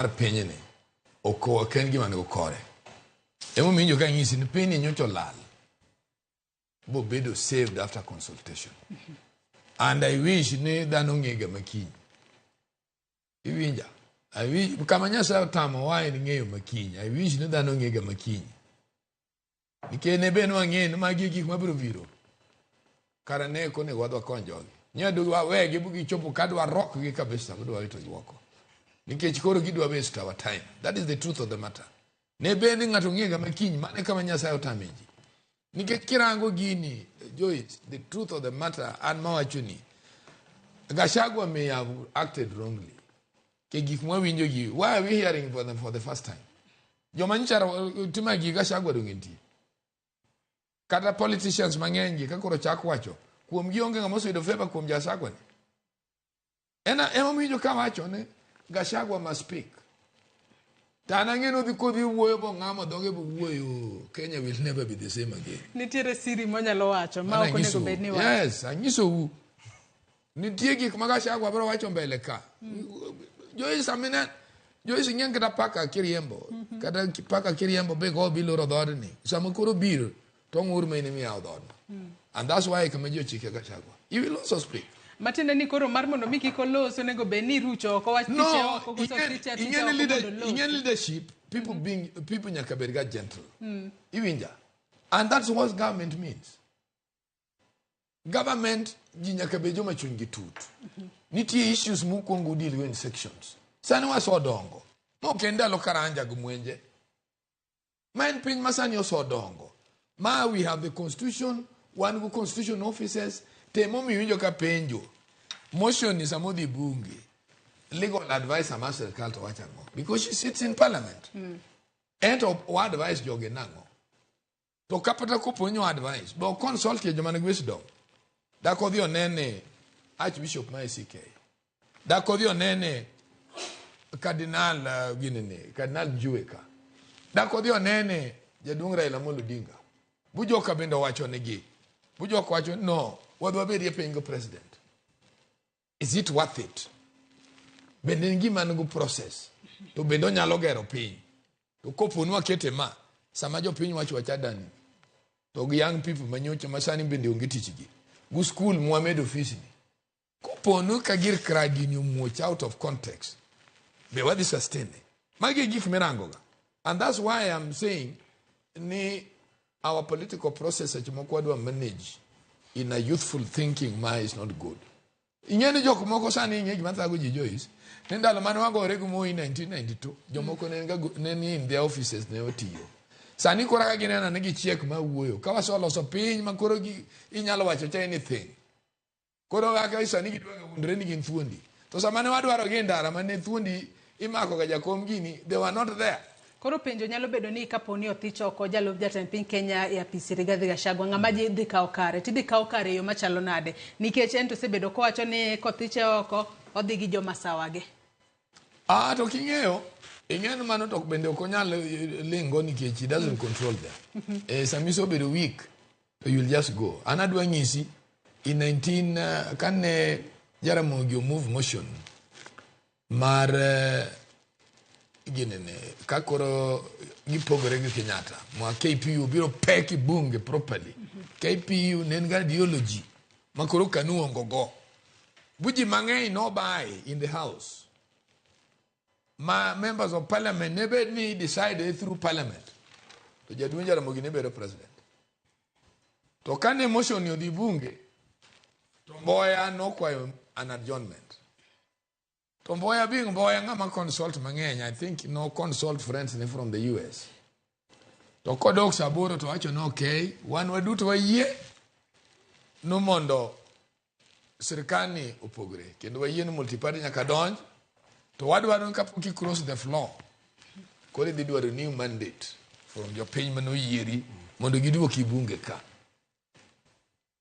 mar pinyni ok ok en gima nego kore emomiyo injo ka nyisi ni pinyni nyocha olal bobedo saved after consultation and i wish ni dhano ng'ega makiny iwinja I wish, kama nyasaye otamowa en ng'eyo makiny i wish ni dhano ng'ega makiny Nikech ne be nwang'e ni magi e gik mabiro biro. Kara ne ok onego wadwa kony jogi. Nyadu wawegi gichopo ka dwa rokgi kabisa ma dwa wito yuoko. Nikech koro gidwa waste our time. That is the truth of the matter. Ne be ni ng'ato ng'ega ma kiny mane kama Nyasaye otame ji. Nikech kirango gini, Joyce, the truth of the matter an mawachoni. Gachagua may have acted wrongly. ke gik mwawinjo gi why are we hearing for them for the first time joma nyicha tima gi ga shagwa donge nitie kata politicians mang'eny gi kakoro chak wacho kuom gi onge ng'ama oseyudo favor kuom jasagwa ni ena emomiwinjo ka wacho ni gashagwa must speak to an ang'e nodhi kodhi wuoyo bong'amo dhoge bowuoyo kenya will never be the same again nitiere siri monyalo wacho ma ok onego bed ni wacho yes anyisou Nitie gik ma Gachagua biro wacho mbele ka. Joyce amine Joyce ing'eng kata paka kiriembo kata ki- paka kiriembo be go biloro dhoodni sama koro biro to ng'ur ma in imiyawo dhoodno. And that's why kama ji ochike Gachagua. He will also speak. matiende ni koro mar mondo mi kik olos onego bed ni irucho oko wach tiche No, oko koso ing'e- tiche tiche ing'e oko ni leader- mondo olos. ing'e ni leadership, people being people nyaka bed ga gentle. Iwinja. And that's what government means. government ji nyaka bed joma chunygi tut nitie issues mukwongo udil go in sections sani wasedongo mok en ndalo karanja gi mwenje ma en piny ma sani osedongo ma we have the constitution wan go constitution offices temo miwinjo ka penjo motion ni sama odhi bunge legal advice ama sirikal to wacho ang'o because she sits in parliament ento wa advice jogi nang'o to kapata kopo ni advice bo consult ye jomane wisdom da ko dhi onene archbishop ma ICK e da ko dhi onene cardinal uh, gini ni cardinal Juweka da ko dhi onene jaduong' Raila Amolo Odinga bujoka bende owacho nigi bujoka wacho no wadwa bedie piny go president is it worth it bende en gima nigo process to bende onyalo gero piny to koponi wakete ma sama jopiny wacho wachadani to gi young people manyocha masani bende onge tichgi gu skul mwamedo ofisni koponu ka gir kradini omuoch out of context be wadhi sustain magi e gik mirangoga and that's why I'm saying ni Our political process seche moko wadwa manage in a youthful thinking ma is not good. Ing'e ni jok moko sani ing'e gima thago ji Joyce ni ndalo mane wagore gi Moi 1992 jomoko ne ga ne ni in their offices ne otiyo. Sani koro ka ginena ni gichiek ma wuoyo ka wasoloso piny ma koro gi- inyalo wacho cha anything. Koro kaka sani gidwa wuondre ni gin thuondi. To sama ne wadwarogi e ndara ma ne thuondi imakoga jakom gini, they were not there. Koro penjo nyalo bedo ni kapo ni othich oko jalup jatend piny Kenya e apisi Rigathi Gachagua, ng'ama ji dhi kawo kare? Tidhi kawo kare e yo machalo nade? Nikech en to osebedo kowacho ni kothiche oko, odhi gi joma sawage. Ah, to king'eyo, ing'eyo ni mano to bende ok onyal eh, lingo nikech he doesn't control them. Eh, samiso obedo weak, So you'll just go. An adwa nyisi in 19 uh, kane Jaramogi move motion mar uh, ginene kakoro gipogore gi Kenyatta ma KPU biro peki bunge properly. Mm -hmm. KPU ne en ga ideology ma koro kanu ongo go. Buji mang'eny no buy in the house. ma members of parliament ne bed ni decide through parliament to jaduong' Jaramogi ne bedo president to kane motion ni odhi bunge to Mboya nokwayo an adjournment to Mboya being Mboya ng'ama consult mang'eny I think no consult friends ne from the US to kodok saa aboro to wacho ni ok wan waduto wayie ni mondo sirikani opogre kendo wayie ni multiparty nyaka donj to wadwaro ni kapok i cross the floor koro idhi dwaro new mandate from jopiny mane oyieri mondo giduoki bunge ka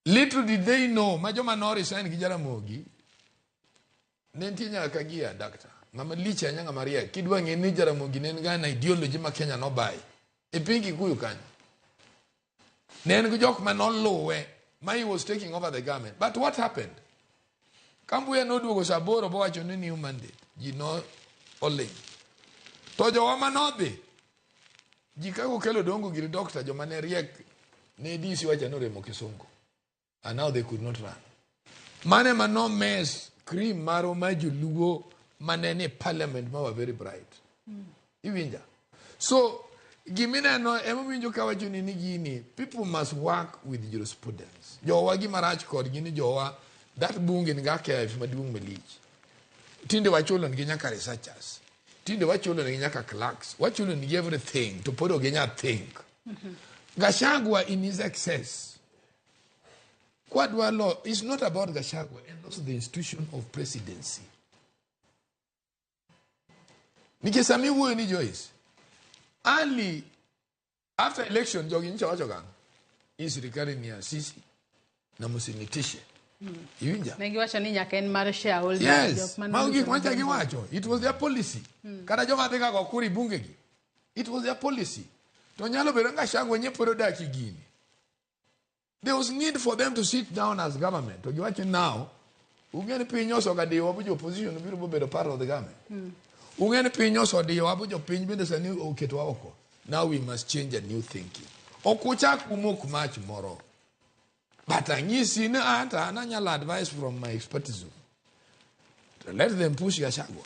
Little did they know, ma joma no resign gi Jaramogi, ne nitie nyaka ka gi a doctor. Ng'ama lich ahinya ng'ama riek. Kidwa ng'e ni Jaramogi ne en ga na ideology ma Kenya nobaye. E piny Kikuyu kanyo. Ne en gi jok ma noluwe ma he was taking over the government. But what happened? Kambuya noduogo saa aboro bowacho ni new mandate. Ji no oling'. To jowa ma nodhi, ji kaka okel odongo giri dokta joma ne riek ne DC wacha noremo kisungu. And now they could not run. Mane ma no mess cream maro ma joluo mane ni parliament ma were very bright. Iwinja? So gimineno emowinjo ka wacho ni ni gini people must work with jurisprudence. Jowa gima rach kodgi ni jowa that bunge ni ga kef maduong' malich. Tinde wachulo nigi nyaka researchers. Tinde wachulo nigi nyaka clerks. Wachulo nigi everything to pod oginya think. Gashagwa in his excess Kwadwa law is not about Gashagwa and also the institution of presidency. nikech sama iwuoyo ni Joyce early after election jogi nyicha wacho kang'o ni sirikali ni asisi na msinitishe iwinja Ne giwacho ni nyaka en mar shareholder. yes jok man- mago gik macha giwacho it was their policy kata joma dhi kago kuri bungegi it was their policy to nyalo bedo nga shango nye pod odak e gini There was need for them to sit down as government. To giwacho now, ungeni piny osogadiwa bu opposition biro bobedo part of the government. Mm. Ungeni piny osodiwa bu jopiny bende sani oketwa oko. Now we must change a new thinking. Ok uchak umok mach moro. But anyisi ni ata ananyalo advice from my expertise. Let them push Gachagua.